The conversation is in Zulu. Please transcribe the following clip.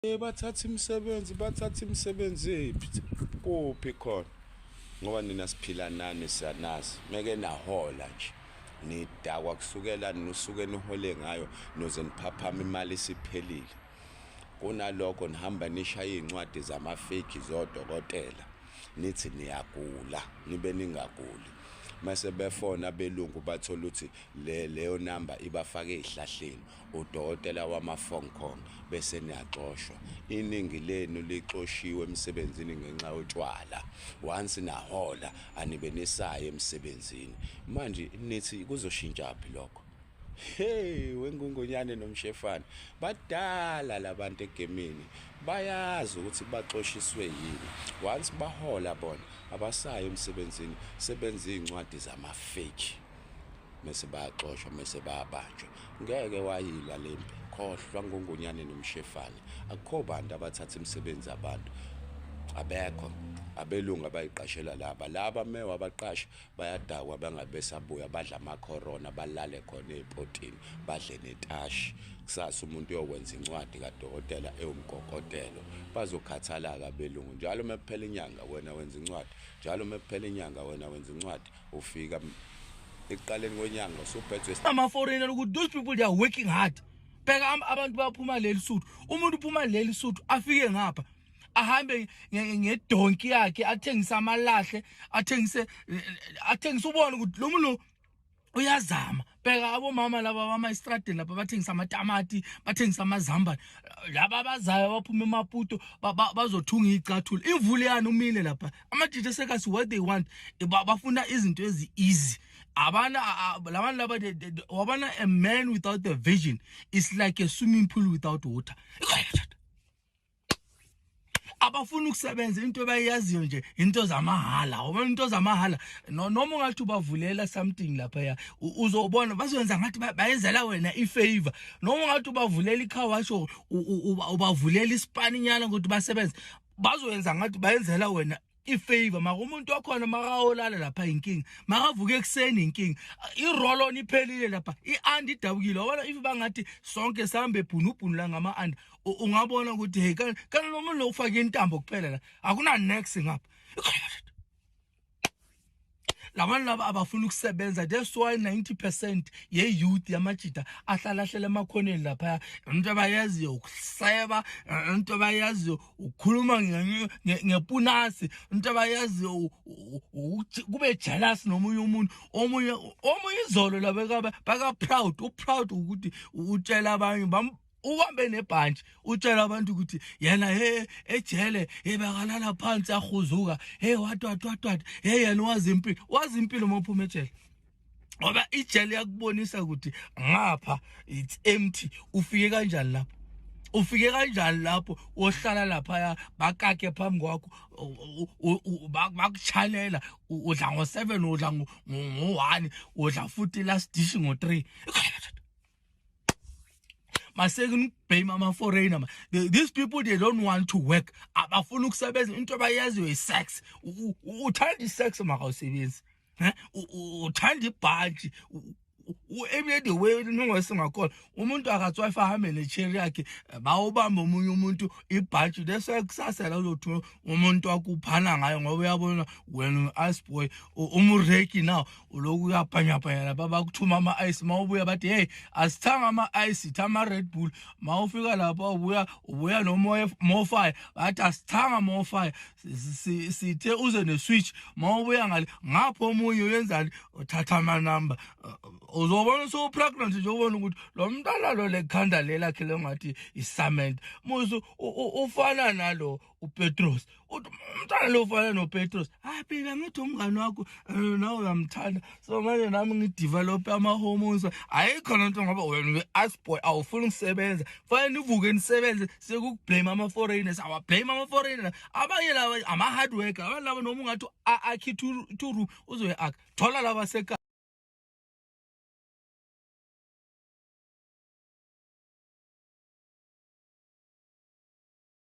Eh, bathatha imisebenzi bathatha imisebenzi ephi kuphi khona ngoba nina siphila nani siyanazi meke nahola nje nidakwa kusukela nusuke nihole ngayo noze niphaphama imali isiphelile kunalokho nihamba nishaya iy'ncwadi zamafeki zodokotela nithi niyagula nibe ningaguli mase befona belungu bathola ukuthi le leyo number ibafaka ezihlahleni udokotela wama phone call bese niyaxoshwa iningi lenu lixoshiwe emsebenzini ngenxa yotshwala once nahola anibe nisaye emsebenzini manje nithi kuzoshintsha phi lokho Hey wengungonyane nomshefane badala labantu egemini bayazi ukuthi baxoshiswe yini once bahola bona abasayo emsebenzini sebenza izincwadi zama fake mase bayaxoshwa mase bayabanjwa ngeke wayilwa lempi khohlwa ngongonyane nomshefane akukho bantu abathatha imisebenzi abantu abekho abelungu abayiqashela laba laba mewa abaqasha bayadakwa bangabesabuya badla amakhorona balale khona ey'potini badle netashi kusasa umuntu uyokwenza incwadi kadokotela ewumgogotelo bazokhathalaka abelungu njalo uma kuphela inyanga wena wenza incwadi njalo uma kuphela inyanga wena wenza incwadi ufika ekuqaleni kwenyanga usuphethwe ama-foreigner ukuthi those people they are working hard bheka abantu baphuma leli suthu umuntu uphuma leli suthu afike ngapha ahambe ngedonki yakhe athengise amalahle athengise eh, athengise ubone ukuthi lo muntu uyazama bheka abomama laba bama estradini lapha bathengisa amatamati bathengisa amazambane laba abazayo abaphuma emaputo bazothunga iy'cathula imvula yani umile lapha amajita sekasi what they want bafuna izinto ezi-easy abana labantu laba wabana a man without a vision is like a swimming pool without water abafuna ukusebenza into bayaziyo nje into zamahala ngoba into zamahala noma ungathi ubavulela something lapha ya uzobona bazoyenza ngathi bayenzela wena ifavor noma ungathi ubavulela icar wash ubavulela isipaninyana ukuthi basebenze bazoyenza ngathi bayenzela wena ifavor maka umuntu wakhona makawolala lapha inkinga makavuka ekuseni inkinga i-roll on iphelile lapha i-and idabukile wabona if bangathi sonke sihambe ebhunubhunu la ngama-and ungabona ukuthi hey kanti lo muntu lokufake intambo kuphela la akuna-nex ngapha labantu laba abafuna ukusebenza that's why 90% ye-youth yamajida ahlala ahlela emakhoneni laphaya into abayaziyo ukuseba into abayaziyo ukukhuluma ngepunasi into abayaziyo kube jealous nomunye umuntu omunye omunye izolo laba baka-proud u-proud ukuthi utshela abanye ubambe nebhantshi utshela abantu ukuthi yena he ejele ebakalala phansi ahuzuka he watwatwatwat he yena wazi impilo wazi impilo uma uphuma ejele ngoba ijele yakubonisa ukuthi ngapha it's empty ufike kanjani lapho ufike kanjani lapho wohlala laphaya bakakhe phambi kwakho bakuchalela udla ngo-seven udla ngo-one udla futhi last dish ngo-three maseke nibhame ama foreigner these people they don't want to work abafuna ukusebenza into abayaziyo isex uthanda isex maka usebenzi eh? uthanda ibhaji every the way ningosingakhona umuntu akathi wife ahambe necheri yakhe bawubamba omunye umuntu ibhaji lese kusasa la uzothi umuntu wakuphana ngayo ngoba uyabona wena asboy umureki now uloku uyabhanyabhanya lapha bakuthuma ama-ice ma ubuya bathi heyi asithanga ama-ice itha ama-red bull ma ufika lapha ubuya ubuya nomofire bathi asithanga mofire sithe uze ne-switch ma ubuya ngale ngapho omunye uyenzani uthatha amanumber uh, uzobona sowupregnant nje ubona ukuthi lo mntana lo lekhanda lelakhe lengathi isament musu ufana nalo uPetros uthi umntwana lo ufana noPetros hayi phela ngithi umngane wakho eh, nawe uyamthanda so manje nami ngidevelop ama hormones ayikho lento ngoba wena ngi ask boy awufuni ukusebenza fanele nivuke nisebenze sekukublame ama foreigners awa blame ama foreigners abanye laba ama hard worker abantu laba noma ungathi akhi to room uzoya akha thola laba seka